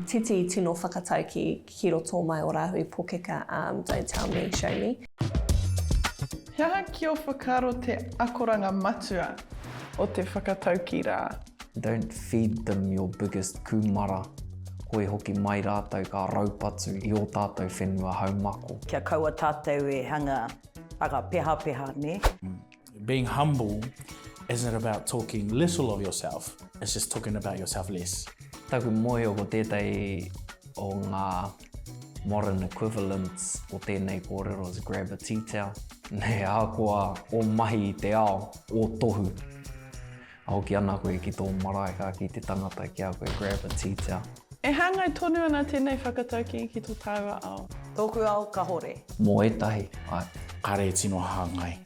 Titi tino whakataukī ki roto mai o Rāhui Pokeka um don't tell me, show me. He aha ki o whakaaro te akoranga matua o te whakataukī rā? Don't feed them your biggest kūmara, hoi hoki mai rātou ka raupatu i ō tātou whenua haumako. Kia kaua tātou e hanga, hanga pehapeha, nē? Being humble isn't about talking little of yourself, it's just talking about yourself less. Taku mōhio ko tētahi o ngā modern equivalents o tēnei kōrero is grab a tea towel. Nei ahakoa ō mahi i te ao, ō tohu, ka hoki ana koe ki tō marae ka kī te tangata ki a koe grab a tea towel. E hāngai tonu ana tēnei whakataukī ki tō tāua ao. Tōku ao kahore. Mō ētahi, āe. Kāre e tino hāngai.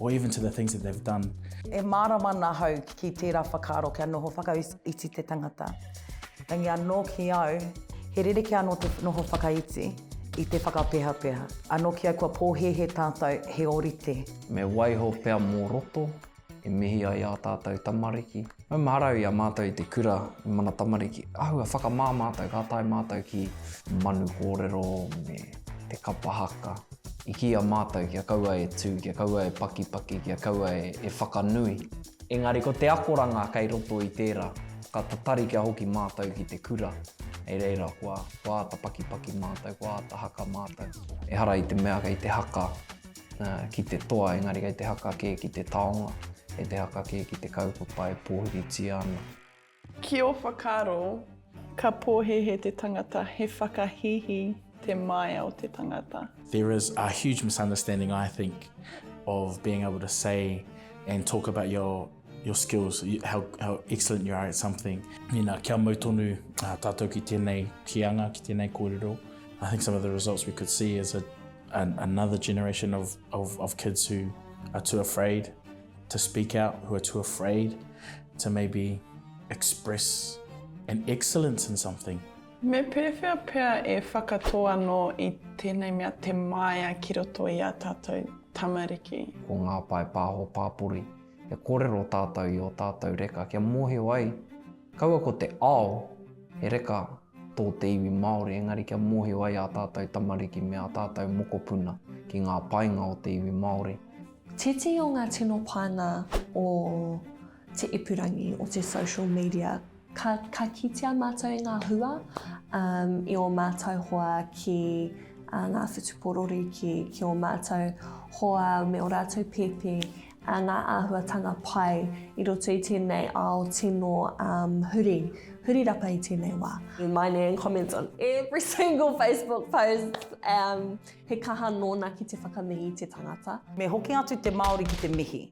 or even to the things that they've done. E mārama ana ahau ki tērā whakaaro kia noho whakaiti te tangata. Engari anō ki au, he rerekē anō te noho whakaiti i te whakapehapeha. Anō ki au kua pōhēhē tātou he ōrite. Me waiho pea mō roto e mihi ai ā tātou tamariki. Mau marau i a mātou i te kura i mana tamariki, āhua whakamā mātou ka tae mātou ki manu kōrero me te kapa haka i kīia mātou kia kaua e tū, kia kaua e pakipaki, kia kaua e whakanui. Engari ko te akoranga kei roto i tērā, ka tatari kia hoki mātou ki te kura, hei reira kua āta pakipaki mātou, kua āta haka mātou. Ehara i te mea kei te haka ki te toa engari kei te haka kē ki te taonga, kei te haka kē ki te kaupapa e pōhiritia ana. Ki ō whakaaro, ka pōhēhē te tangata, he whakahīhī te māia o te tangata. There is a huge misunderstanding, I think, of being able to say and talk about your. Your skills, how, how excellent you are at something. Nina, kia mau tonu uh, tātou ki tēnei kīanga, ki tēnei kōrero. I think some of the results we could see is a, an, another generation of, of, of kids who are too afraid to speak out, who are too afraid to maybe express an excellence in something. Me pēwhea pea e whakatō anō i tēnei mea te māia ki roto i a tātou tamariki. Ko ngā pae pāho pāpori. kia kōrero tātou i ō tātou reka, kia mōhio ai, kaua ko te ao, he reka tō te iwi Māori, engari kia mōhio ai ā tātou tamariki me ā tātou mokopuna ki ngā painga o te iwi Māori. Tētehi o ngā tino painga o te ipurangi, o te social media, Ka, ka kitea mātou i ngā hua um, i o mātou hoa ki uh, ngā whutuporori, ki, ki o mātou hoa me o rātou pēpē uh, ngā āhuatanga pai i roto i tēnei ao tino um, huri, huri rapa i tēnei wā. My nan comments on every single Facebook post. Um, he kaha nōna ki te whakamihi i te tangata. Me hoki atu te Māori ki te mihi.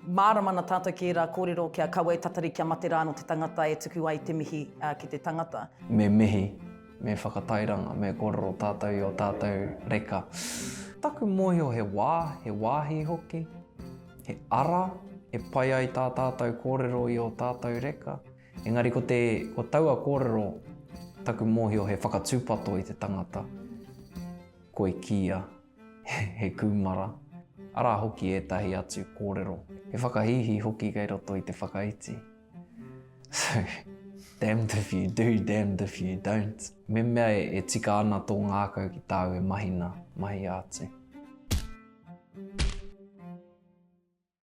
Mārama ana tātou ki ērā kōrero kia kawe e tatari kia mate rā anō te tangata e tuku ai te mihi ki te tangata. Me mihi, me whakatairanga, me kōrero tātou i ō tātou reka. Taku mōhio he wā, he wāhi hoki, he ara e pai ai tā tātou kōrero i ō tātou reka. Engari ko te, ko taua kōrero taku mōhio he whakatūpato i te tangata. Koi kīia. he kūmara, arā hoki ētahi atu kōrero, he whakahīhī hoki kei roto i te whakaiti. So, damned if you do, damned if you don't. Me mea e tika ana tō ngākau ki tāu e mahina, mahia atu.